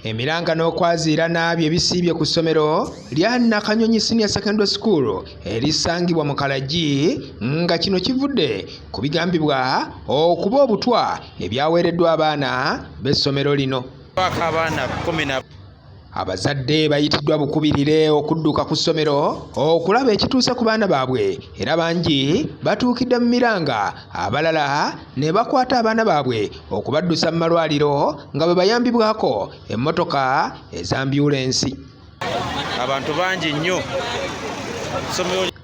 emiranga n'okwaziira n'abyo ebisiibye ku ssomero lya nakanyonyi senior secondary school erisangibwa mu kalagi nga kino kivudde ku bigambibwa okuba obutwa ebyaweereddwa abaana b'essomero lino Abazadde bayitiddwa bukubirire okudduka ku ssomero okulaba ekituuse ku baana baabwe era bangi batuukidde mu miranga abalala ne bakwata abaana baabwe okubaddusa mu malwaliro nga bwe bayambibwako emmotoka ez'ambyulensi. Abantu bangi nnyo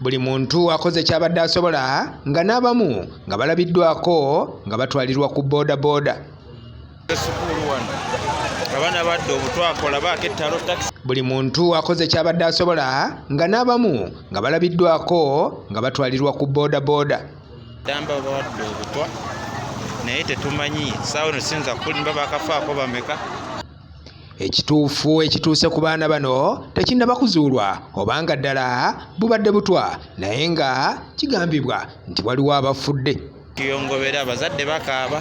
buli muntu akoze kyabadde asobola nga n'abamu nga balabiddwako nga batwalirwa ku boodabooda. buli muntu akoze kyabadde asobola nga n'abamu nga balabiddwako nga batwalirwa ku bodaboda damba bawadde obutwa naye tetumanyi saawa no siyinza kulimba bakafaako bameka ekituufu ekituuse ku baana bano tekinnaba kuzuulwa obanga ddala bubadde butwa naye nga kigambibwa nti waliwo abafudde tuyongobera abazadde bakaaba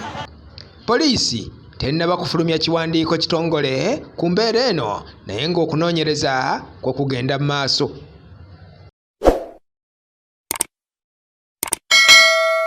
Poliisi tennaba kufulumya kiwandiiko kitongole ku mbeera eno naye ng'okunoonyereza kwe kugenda mu maaso.